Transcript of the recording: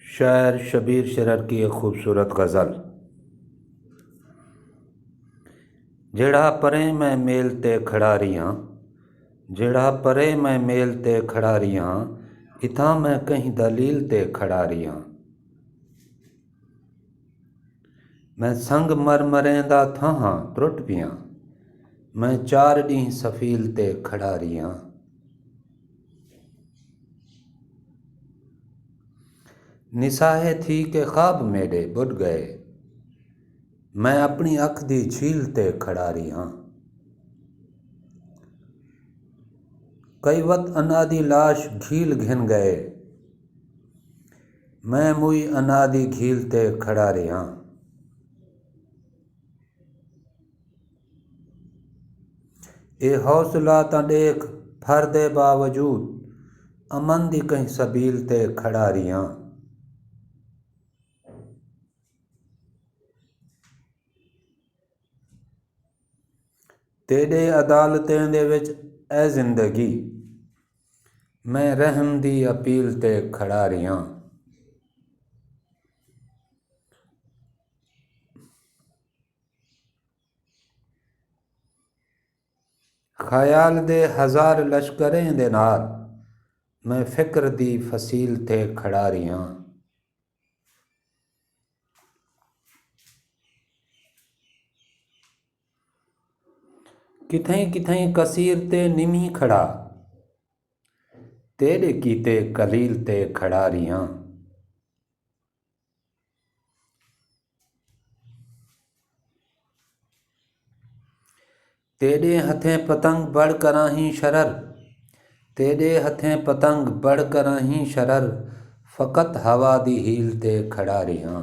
شاعر شبیر شرر کی ایک خوبصورت غزل جیڑھا پرے میں میل تے کھڑا ریاں جیڑھا پرے میں میل تے کھڑا ریاں اتھاں میں کہیں دلیل تے کھڑا ریاں میں سنگ مر مریں دا تھاہاں ترٹ پیاں میں چار ڈینہ سفیل تے کھڑا ریاں نساہے تھی کے خواب میڈے بڈ گئے میں اپنی اکھ دی جھیل تے کھڑا رہی ہاں کئی وت انا دی لاش گھیل گھن گئے میں موئی انا دی گھیل تے کھڑا رہی ہاں اے حوصلہ تاں ݙیکھ پھر دے باوجود امن دی کہیں سبیل تے کھڑا ریہاں۔ تیݙے عدالتیں دے وچ اے زندگی میں رحم دی اپیل تے کھڑا ریہاں۔ خیال دے ہزار لشکریں دے نال میں فکر دی فصیل تے کھڑا رہیا کتھیں کتھیں کثیر تے نمی کھڑا تیرے کیتے قلیل تے کھڑا رہیا تیݙے ہتھیں پتنگ بڑ کراہیں شرر تیݙے ہتھیں پتنگ بڑ کراہیں شرر فقط ہوا دی ہیل تے کھڑا ریہاں